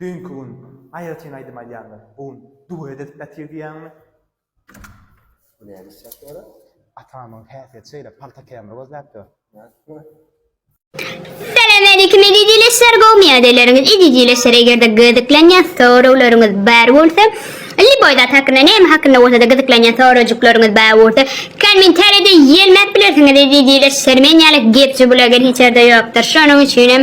Düýnki gün aýratyn aýdym aýdýandyr. Bu gün duet edip ýatyr diýýäňmi? Bu näme iş ýaşy ora? Atamyň häsiýeti şeýle, palta kämir gözläp ýör. Salamaleýkim eziz ildeşler gowy miadeleryňiz eziz ildeşler egerde gyzyklanýan soraglaryňyz bar bolsa Liboý zat hakynda näme hakynda bolsada gyzyklanýan sorajyklaryňyz bar bolsa kommentarýada ýelmäp bilersiňiz eziz ildeşler men ýaly gepji bulager hiç ýerde ýokdur şonuň üçinem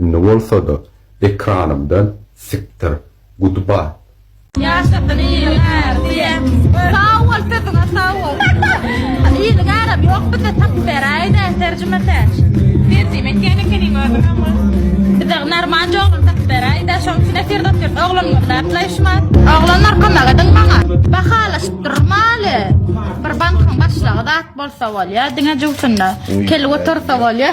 Indi bolsada ekranymdan sikdir gudbat. Ýaşasyn iliňer diýen. Sag bol sesiňe sag bol. Iliňeram ýok bize tapyp beräýdä terjime täç. Terjime etýän ekeniň özüňem gyz. Bize narmanca oglan tapyp beräýdä şoň üçin efirde otyrys oglan gözläp laýyşmaz. Oglanlar kömek ediň maňa. Bahalaşyp durum aly. Bir bankyň başlygy zat bolsa bolýa diňe jüwsünde kelip otursa bolýa.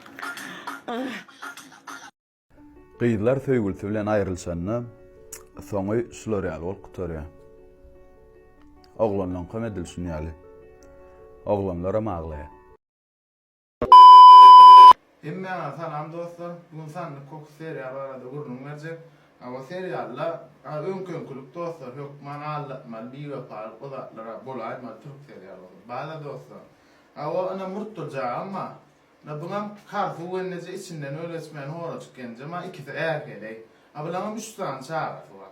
Gyzlar söýgülisi bilen aýrylyşanda, soňy şular ýaly bolup gutarýar. Oglanlaňkam edil şun ýaly. Oglanlaram aglaýar. Hemmäňe salam dostlar. Bu gün sandyk kokusy seriýaly barada gürrüň berjek. Hawa seriýalda a öňki öňkülik dostlar hökman aldatmaly biwepalyk bu zatlar a bolaýmaly türk seriýalynda. Bada dostlar. Hawa ynha murt durjagam bar. A bulam Karsu Wenneje içinden öl geçmän horajyk genjem a ikisi ärheleý. A bulaňam üç sany çagasy bar.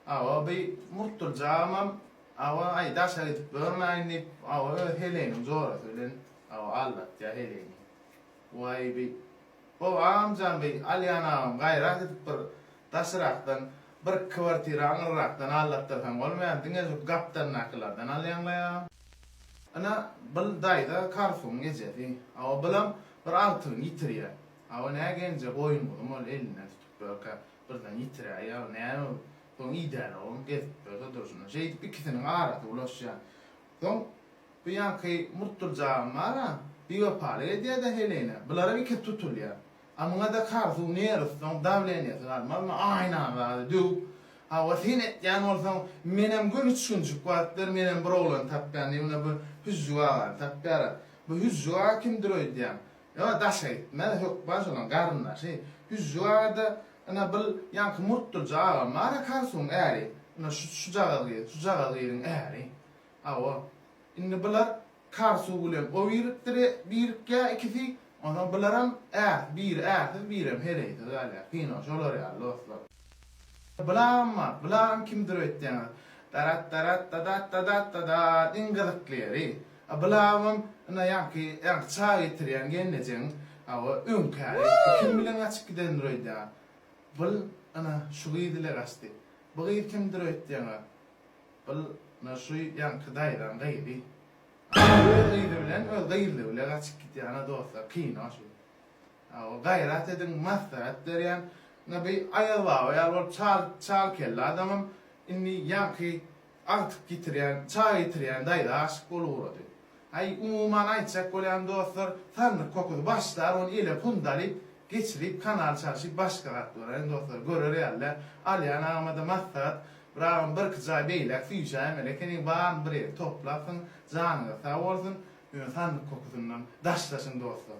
Awa bi Murtuljagymam awa aý daşa gidip görmäýin diýip awa öz heleýiniň jorasy bilen awa aldatýa heleýini. Waý bi Bowa amjan bi Alýan agam gaýrat edip bir daşrakdan bir kwartira aňyrrakdan allatdyrsaň bolmaýar, diňe şu gapdandakylardan alýaňlaýa. Ine, byl daýza Karsuň ejesi. Awa bylam bir agtygyny ýitirýär. Awa nä genje goýun-guzum ol elinden tutup görkä, birden ýitiräýýär, awa näme bu? Soň idärogam gezip ýörse durşuna. Şeýdip ikisiniň arasy ulaşýar. Soň bu ýanky murtdurjagam bar-a, biwepalyk edýär-de Helenä. Bularam ikisi tutulýar. A muňada karzu nerwsyň dawleniýesi galmazmy aýnagady döwüp hawa sen etýän bolsaň menem göni üçkünjik bap ber menem bir oglany tapýan diýip ine bir hüjjük agany tapýara bu hüjjük aga kimdir öýdýäň ýöne daşa gitmez hökman şonuň garyndaşy hüjjük agada ine bil ýaňky murtdulja agam bara karzuň äri ine şujagaz gyz şujagaz gyzyň äri hawa indi bular Kar suw bilen o birikdir birikýä ikisi onsoň bularam ärs biri ärsiz birem heleýsiz galýa kino şolar ýaly dostlar. Bularam bar bularam kimdir öýtseňiz daratdaratdadattadattadatt iň gyzykly ýeri a bulabam ina ýaňky ýaňky çaý getirýän gelnejeň a we öňkäri bu kim bilen gaçyp gidendir öýdýän bul ina şu gyz ile gaçdy bu gyz kimdir öýtseňiz Bil na şu ýaňky daýzaň gyzy. Aý öz gyzy bilen öz gyzly bile gaçyp gitýana dostlar kino şu. Aw gaýrat ediň maslahat berýän na bi aýaz baba ýaly bolup çal çal kelle adamam indi ýaňky agtyk ýitirýän çag ýitirýän daýza aşyk bolup ugrady. Aý umuman aýtjak bolýan dostlar sandyk kokusy başlar ony ele pundalyp geçirip kanal çalşyp başga gat bolaýyň dostlar görer ýaly däl alýan agamada maslahat Bragam birki jaý beýläk süýjäýmeli ekeniň baryny bir ýere toplapsyň janyňyz sag bolsun ýöne sandyk kokusyndan daşlaşyň dostlar.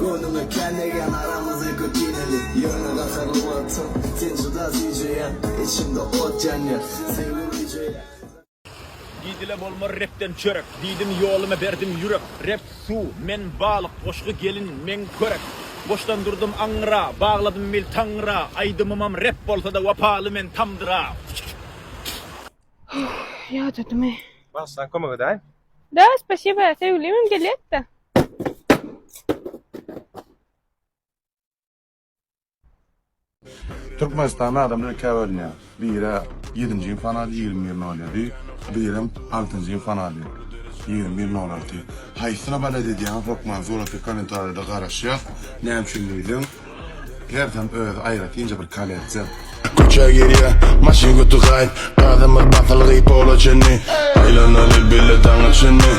Göwnüme kelle ýan aramyzy götineli Ýöne gaharly wagtym sen juda süýjeýäň Içimde ot ýanýar söýgi güýjeýär. Diýdile bolmar repden çörek Diýdim ýoluma berdim ýürek Rep suw, men balyk, goşgy gelin, meň körek Boşdan durdum aňra, bagladym bil Taňra Aýdymymam rep bolsada wapaly men tamdyra. Ýadadymy. Bagşydan kömek edäýin. Da spasiba sevgilim hem gelýätda. Türkmenistanda adamlar ikä bölünýär. Biri ýedinji ýyfany alýar, ýigrimi bir nolýady. Birem altynjy ýyfany alýar, ýigrimi bir nolaty. Haýsyna balet edýäňiz, hökman suraty kommentariýada garaşýas. Näme üçin diýseň, hersem özi aýratynja bir kolleksiýa. Köçä girýä maşyn götügaýyp Gadymyz basylgy pola çenli Aýlanaly bile daňa çenli.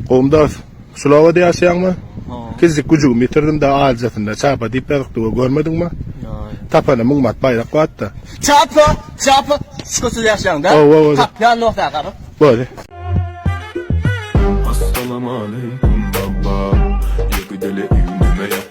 Gowumdas, şul obada ýaşaýaňmy? Hawa. Kiçijik güjügimi ýitirdim-de, aljasynda Çapa diýip ýazypdygy görmediňmi? Ýaý. Tapana müň mat baýrak bat-da. Çapa, Çapa, şükürsiz ýaşaýaň-da. Hawa, hawa. Tap, ýanyna otaga gabat. Bori. Assalamu aleykum baba, ýeke dele iňdime ýat.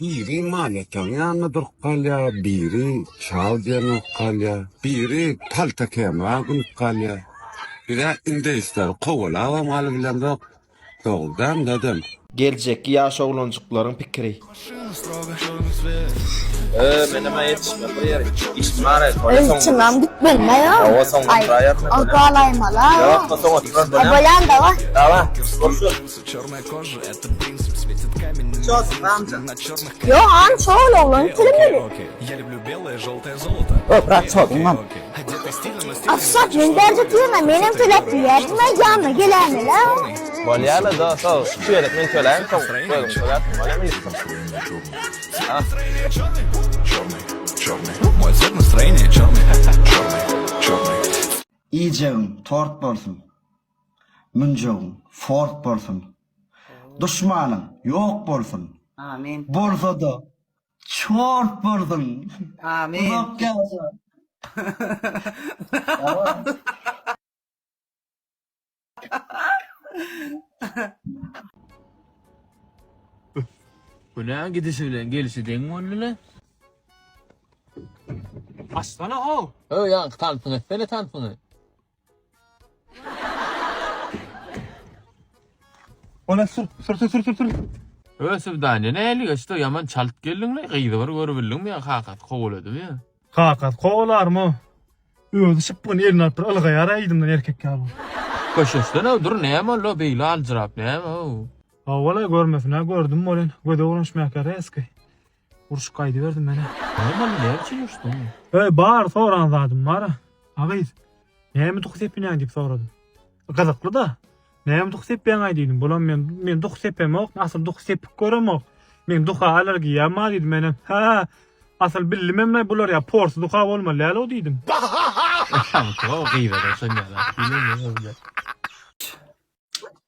Biri manýataň ýanynda durup galýar, biri çal diýen bolup galýar, biri palta kemra gülüp galýar. Biz-ä indeýsleri kowalabam galybilemzok, dogrudanam dadam. Geljekki ýaş oglanjyklaryň pikiri. Ööö menem-ä ýetişmem bir ýere. Işim bar-a ýöne soň Ilçiňem gitmelimäýo. Hawa soň otyraýaryn. Agalaýmala. Ýok, soň otyrar dönem. Bolýanda bar. Dawa, görşüs. Ýo han şol oglany telemedi. Ökrat çoduňam. Aşak men berjek ýerine menem töläp diýýärsiňä ýanyna geläýmelä. Bolýarmy dos ol şu çeýelik men töläýin soň özüň töläp bolýa ministr. Iýjegiň tort bolsun. Münjegiň fort bolsun. Duşmanyň ýok bolsun. Amin. Bolsada çort bolsun. Amin. Uzak ýaşa. Günä gidişi bilen gelişi deň boldyla. Açsana how. Höw ýaňky tansyňy etsene tansyňy. Ona sür, sür, sür, sür, sür, sür. Öö Sübdaniýe näli geçdi ýaman çalt geldiňle gyzy bir görüp bildiňmi ýa kakasy kowaladymy ýa. Kakasy kowalarmy o. Özi şypbygyny eline alyp bir ylgaýar aýdymdan erkek ýaly. Köşeşden-ow dur näme oldu o beýle aljyrap näme ow. Hawa-la görmesin-ä gördüm welin göze urunç mäkäre eski. Urşup gaýdyberdim menä. Näme boldy, näme üçin urşduň? Öý, bar, soran zadym bar. A gyz, näme duhy sepinýäň diýip sorady. Gyzykly-da. Näme duhy sepýäň-aý diýdim. Bolam men, men duhy sepemok, asyl duhy sepip göremok. Meň duha alergiýam bar diýdim menem. Hä, asyl billimem-le bular ýa porsy duha bolmaly däl-ow diýdim. Aşaňky o gyz-a şonda-da.